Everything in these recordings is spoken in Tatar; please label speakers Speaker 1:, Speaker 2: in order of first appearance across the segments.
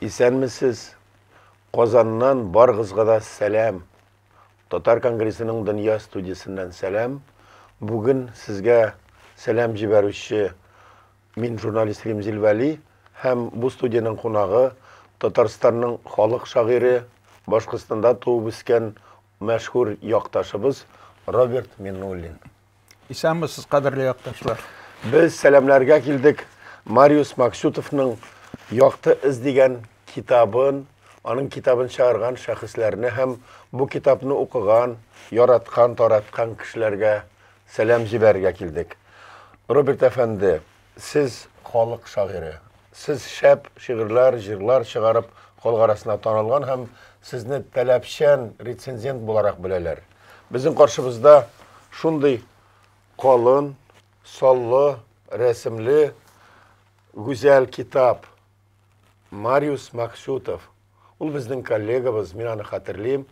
Speaker 1: Исәнмесез! Казаннан баргызга да сәлам. Татар конгрессының дөнья студиясеннән сәлам. Бүген сезгә сәлам җибәрүче Мин журналист Римзил Вәли һәм бу студиянең кунагы, Татарстанның халык шагыйре, Башкортстанда туып үскән мәшһүр якташыбыз Роберт Миннуллин. Исәнмесез,
Speaker 2: кадерле якташлар! Без сәламләргә
Speaker 1: килдек Мариус Максютовның Якты эз дигән китабын, аның китабын чыгарган шәхесләрне һәм бу китапны укыган, яраткан, тараткан кешеләргә Сәлам җибәрергә килдек. Роберт әфәнде, сез халык шагыйре. Сез шәп шигырьләр, җырлар чыгарып, халык арасына танылган һәм сезне таләпчән рецензент буларак беләләр. Безнең каршыбызда шундый калын, саллы, рәсемле, гүзәл китап, Мариус Максютов. Ул безнең коллегабыз, мин аны хәтерлим.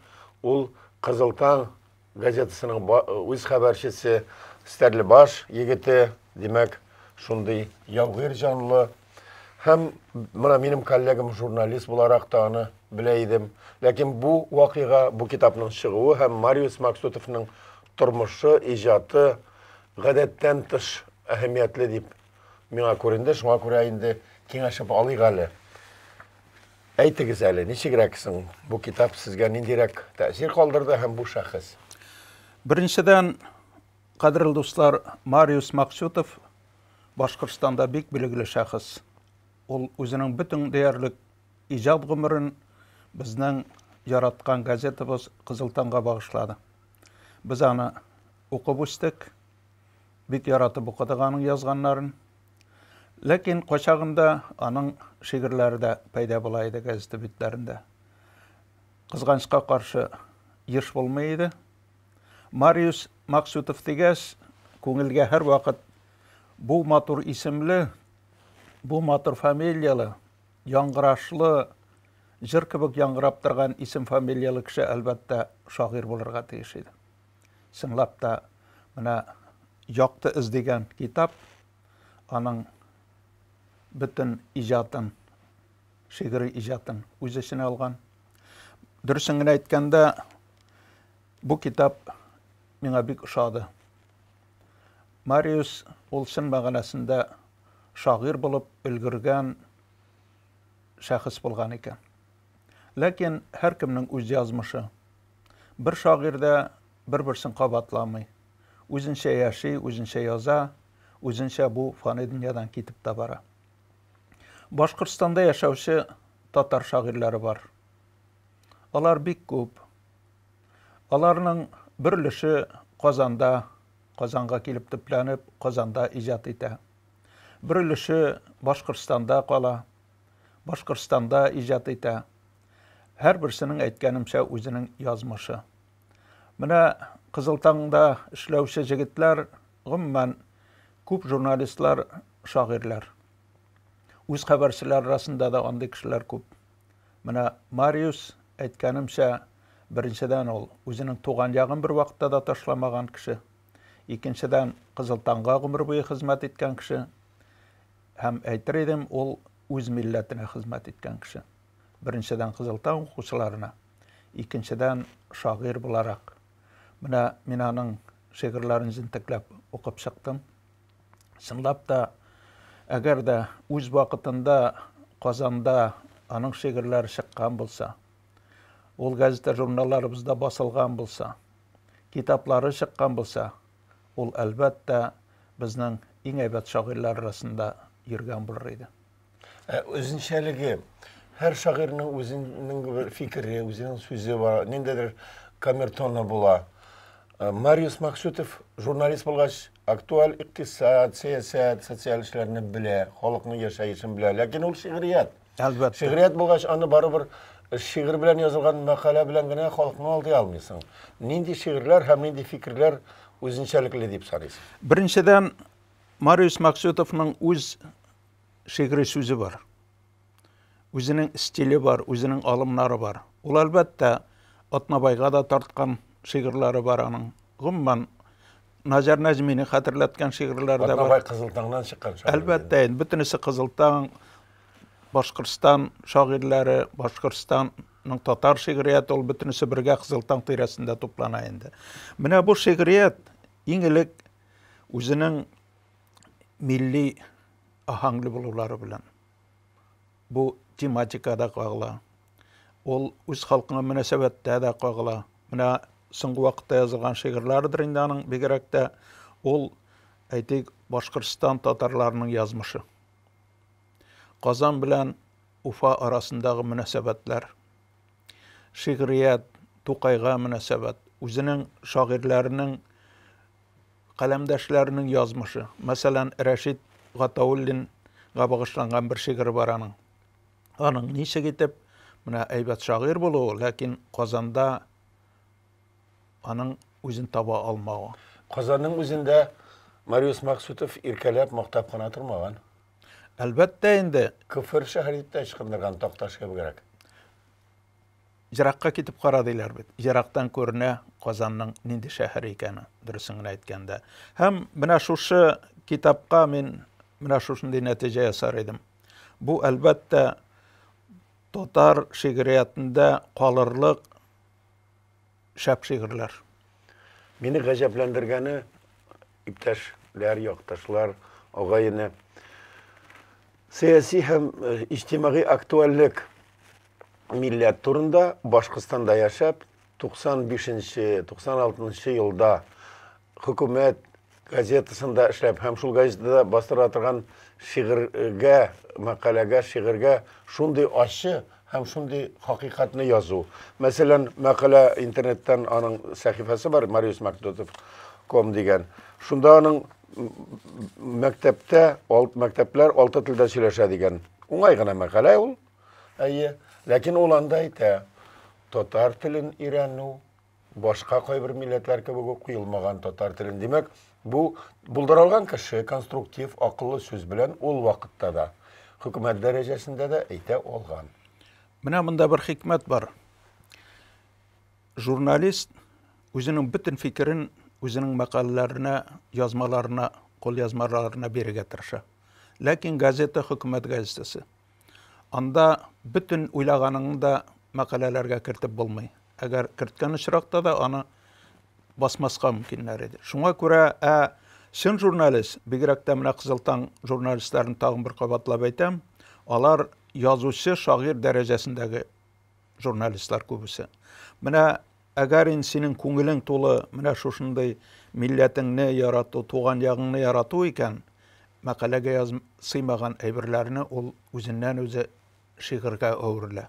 Speaker 1: Ул Кызыл таң газетасының үз хәбәрчесе, Стәрлебаш егете, димәк, шундый яугир җанлы. Һәм менә минем коллегам журналист буларак та аны белә идем. Ләкин бу вакыйга, бу китапның чыгуы һәм Мариус Максутовның тормышы, иҗаты гадәттән тыш әһәмиятле дип миңа күренде. Шуңа күрә инде киңәшеп алыйк әле. Әйтегез әле, ничегрәк соң бу китап сезгә ниндирәк тәэсир калдырды һәм бу шәхес? Беренчедән,
Speaker 2: кадерле дуслар, Мариус Максютов Башкортстанда бик билгеле шәхес. Ул үзенең бөтен диярлек иҗат гомерен безнең яраткан газетабыз Кызыл таңга багышлады. Без аны укып үстек, бик яратып укыдык аның язганнарын. Ләкин качагында аның шигырьләре дә пәйда була иде газета битләрендә. Кызганычка каршы еш булмый иде. Мариус Максютов дигәс, күңелгә һәрвакыт бу матур исемле, бу матур фамилияле, яңгырашлы, җыр кебек яңгырап торган исем-фамилияле кеше, әлбәттә, шагыйрь булырга тиеш иде. Чынлап та, менә Якты эз дигән китап, аның бөтен иҗатын, шигъри иҗатын үз эченә алган. Дөресен генә әйткәндә, бу китап миңа бик ошады. Мариус ул чын мәгънәсендә шагыйрь булып өлгергән шәхес булган икән. Ләкин һәркемнең үз язмышы. Бер шагыйрь дә бер-берсен кабатламый. Үзенчә яши, үзенчә яза, үзенчә бу фани дөньядан китеп тә бара. Башкортстанда яшәүче татар шагыйрьләре бар. Алар бик күп. Аларның бер өлеше Казанда, Казанга килеп төпләнеп, Казанда иҗат итә. Бер өлеше Башкортстанда кала. Башкортстанда иҗат итә. Һәрберсенең, әйткәнемчә, үзенең язмышы. Менә Кызыл таңда эшләүче җегетләр, гомумән, күп журналистлар, шагыйрьләр. Үз хәбәрчеләр арасында да андый кешеләр күп. Менә Мариус, әйткәнемчә, беренчедән ул үзенең туган ягын бер вакытта да ташламаган кеше. Икенчедән, Кызыл таңга гомер буе хезмәт иткән кеше. Һәм әйтер идем, ул үз милләтенә хезмәт иткән кеше. Беренчедән, Кызылтау укучыларына, икенчедән, шагыйрь буларак. Менә мин аның шигырьләрен җентекләп укып чыктым. Чынлап та, әгәр дә үз вакытында Казанда аның шигырьләре чыккан булса, ул газета-журналларыбызда басылган булса, китаплары чыккан булса, Ул, әлбәттә, безнең иң әйбәт шагыйрьләр арасында йөргән булыр иде. Ә
Speaker 1: үзенчәлеге, һәр шагыйрьнең үзенең бер фикере, үзенең сүзе бар, ниндидер камертоны була. Э, Мариус Максютов журналист булгач, актуаль икътисад, сәясәт, социаль эшләрне белә, халыкның яшәешен белә. Ләкин ул шигърият. Әлбәттә. Шигърият
Speaker 2: булгач, аны
Speaker 1: барыбер шигырь белән язылган мәкалә белән генә халыкны алдый алмыйсың. Нинди шигырьләр һәм нинди фикерләр үзенчәлекле дип саныйсың? Беренчедән,
Speaker 2: Мариус Максютовның үз шигъри сүзе бар. Үзенең стиле бар, үзенең алымнары бар. Ул, әлбәттә, Атнабайга да тарткан шигырьләре бар аның. Гомумән, Назар Нәзмини хәтерләткән шигырьләр
Speaker 1: дә бар. Атнабай
Speaker 2: Кызылтаңнан
Speaker 1: чыккан шагыйрь.
Speaker 2: Әлбәттә, инде бөтенесе Кызылтаң, Башкортстан шагыйрьләре, Башкортстанның татар шигърияте ул бөтенесе бергә Кызылтаң тирәсендә туплана инде. Менә бу шигърият иң элек үзенең милли аһәңле булулары белән Бу тематика да кагыла. Ул үз халкыңа мөнәсәбәттә дә кагыла. Менә соңгы вакытта язылган шигырьләрдер инде аның, бигрәк тә ул, әйтик, Башкортстан татарларының язмышы. Казан белән Уфа арасындагы мөнәсәбәтләр. Шигърият, Тукайга мөнәсәбәт, үзенең шагыйрьләренең Каләмдәшләренең язмышы. Мәсәлән, Рәшит Гатауллинга багышланган бер шигыре бар аның. Аның ничек итеп, менә әйбәт шагыйрь булуы, ләкин Казанда аның үзен таба алмавы. Казанның үзендә
Speaker 1: Мариус Максутов иркәләп, мактап кына тормаган. Әлбәттә
Speaker 2: инде. Көфер шәһәр дип тә
Speaker 1: ычкындырган, Такташ кебегрәк.
Speaker 2: Еракка китеп кара, диләр бит. Ерактан күренә Казанның нинди шәһәр икәне, дөресен генә әйткәндә. Һәм менә шушы китапка мин менә шушындый нәтиҗә ясар идем. Бу, әлбәттә, татар шигъриятендә калырлык Шәп шигырьләр. Мине
Speaker 1: гаҗәпләндергәне, иптәшләр, якташлар, агай-эне, сәяси һәм э, иҗтимагый актуальлек милләт турында Башкортстанда яшәп, 95-96 елда Хөкүмәт газетасында эшләп һәм шул газетада бастыра торган шигырьгә, мәкаләгә, шигырьгә шундый ачы һәм шундый хакыйкатьне язу. Мәсәлән, мәкалә интернеттан аның сәхифәсе бар, mariusmacdotov.com дигән. Шунда аның мәктәптә, мәктәпләр алты телдә сөйләшә дигән. Уңай гына мәкалә ул. Әйе, ләкин ул анда әйтә, татар телен өйрәнү, башка кайбер милләтләр кебек үк куелмаган татар телен. Димәк, бу булдыралган кеше конструктив, акыллы сүз белән ул вакытта да, хөкүмәт дәрәҗәсендә дә әйтә алган. Менә монда
Speaker 2: бер хикмәт бар. Журналист үзенең бөтен фикерен үзенең мәкаләләренә, язмаларына, кулъязмаларына бирергә тырыша. Ләкин газета хөкүмәт газетасы. Анда бөтен уйлаганыңны да мәкаләләргә кертеп булмый. Әгәр керткән очракта да аны басмаска мөмкиннәр иде. Шуңа күрә ә чын журналист, бигрәк тә менә Кызыл таң журналистларын тагын бер кабатлап әйтәм, алар язучы, шагыйрь дәрәҗәсендәге журналистлар күбесе. Менә Әгәр инде синең күңелең тулы менә шушындый милләтеңне ярату, туган ягыңны ярату икән, мәкаләгә яз сыймаган әйберләрне ул үзеннән-үзе шигырьгә әверелә.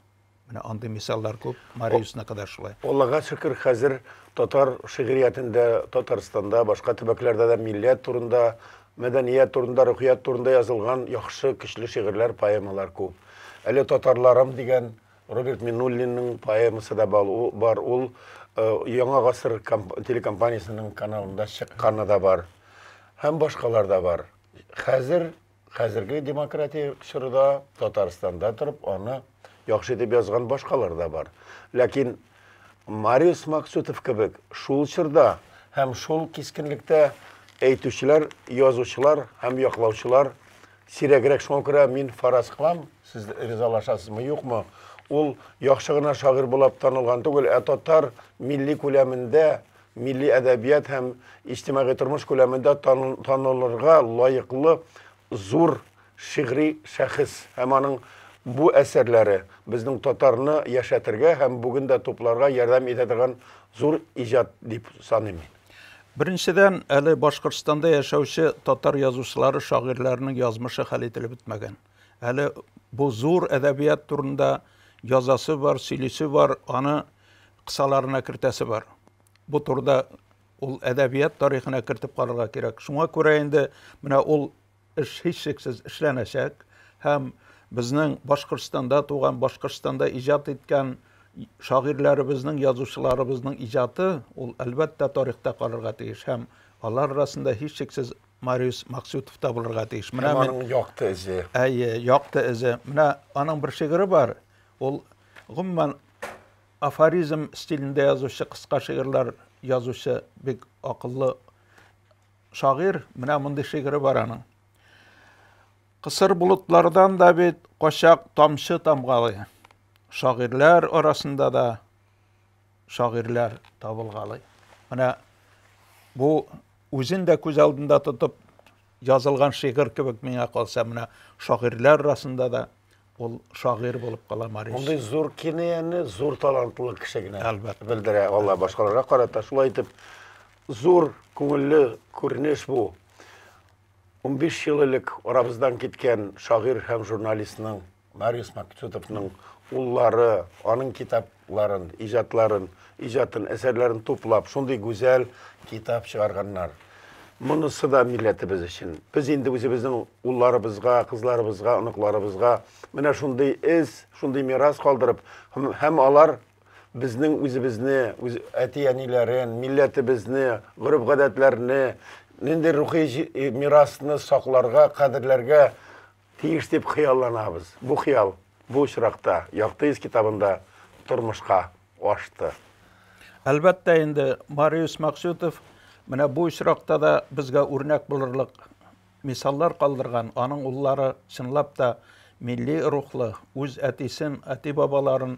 Speaker 2: Менә андый мисаллар күп, Мариуснык да шулай. Аллага шөкер, хәзер
Speaker 1: татар шигъриятендә, Татарстанда, башка төбәкләрдә дә милләт турында, мәдәният турында, рухият турында язылган яхшы, көчле шигырьләр, поэмалар күп. Әле Татарларым дигән Роберт Минуллинның поэмасы да бар, ул Яңа гасыр телекомпаниясенең каналында чыкканы да бар. Һәм башкалар да бар. Хәзер, хәзерге демократия чорыда Татарстанда торып, аны яхшы итеп язган башкалар да бар. Ләкин Мариус Максутов кебек шул чорда һәм шул кискенлектә әйтүчеләр, язучылар һәм яклаучылар Сирәгрәк шуңа күрә мин фараз кылам, сез ризалашасызмы, юкмы? Ул яхшы гына шагыйрь булып танылган түгел, ә татар милли күләмендә, милли әдәбият һәм иҗтимагый тормыш күләмендә танылырга лаеклы зур шигъри шәхес һәм аның бу әсәрләре безнең татарны яшәтергә һәм бүген дә тупларга ярдәм итә торган зур иҗат дип саныйм мин. Беренчедән,
Speaker 2: әле Башкортстанда яшәүче татар язучылары, шагыйрьләренең язмышы хәл ителеп бетмәгән. Әле бу зур әдәбият турында язасы бар, сөйлисе бар, аны кысаларына кертәсе бар. Бу турыда ул әдәбият тарихына кертеп карарга кирәк. Шуңа күрә инде менә ул Эш һичшиксез эшләнәчәк һәм безнең Башкортстанда туган, Башкортстанда иҗат иткән шагыйрьләребезнең, язучыларыбызның иҗаты ул, әлбәттә, тарихта калырга тиеш һәм алар арасында һичшиксез Мариус Максютов та булырга тиеш. Менә мин аның якты эзе.
Speaker 1: Әйе, якты
Speaker 2: эзе. Менә аның бер шигыре бар. Ул гомумән афоризм стилендә язучы, кыска шигырьләр язучы бик акыллы шагыйрь, менә мондый шигыре бар аның. Кысыр болытлардан да бит качак тамчы тамгалый. Шагыйрьләр арасында да шагыйрьләр табылгалый. Менә бу үзен дә күз алдында тотып язылган шигырь кебек миңа калса, менә шагыйрьләр арасында да ул шагыйрь булып кала Марис. Мондый зур кинаяны
Speaker 1: зур талантлы кеше генә Әлбәттә. белдерә
Speaker 2: ала башкаларга
Speaker 1: карата. Шулай итеп, зур күңелле күренеш бу. 15 ел элек арабыздан киткән шагыйрь һәм журналистның Марис Максютовның уллары, аның китап ларын, иҗатларын, иҗатын, әсәрләрен туплап, шундый гүзәл китап чыгарганнар. Монысы да милләтебез өчен. Без инде үзебезнең улларыбызга, кызларыбызга, оныкларыбызга менә шундый эз, шундый мирас калдырып, һәм, һәм алар безнең үзебезне, үз әти-әниләрен, милләтебезне, гореф-гадәтләрне, нинди рухи мирасны сакларга, кадерләргә Тиеш дип хыялланабыз. Бу хыял бу очракта Якты йөз китабында тормышка ашты.
Speaker 2: Әлбәттә инде, Мариус Максютов менә бу очракта да безгә үрнәк булырлык мисаллар калдырган. Аның уллары чынлап та милли рухлы, үз әтисен, әти-бабаларын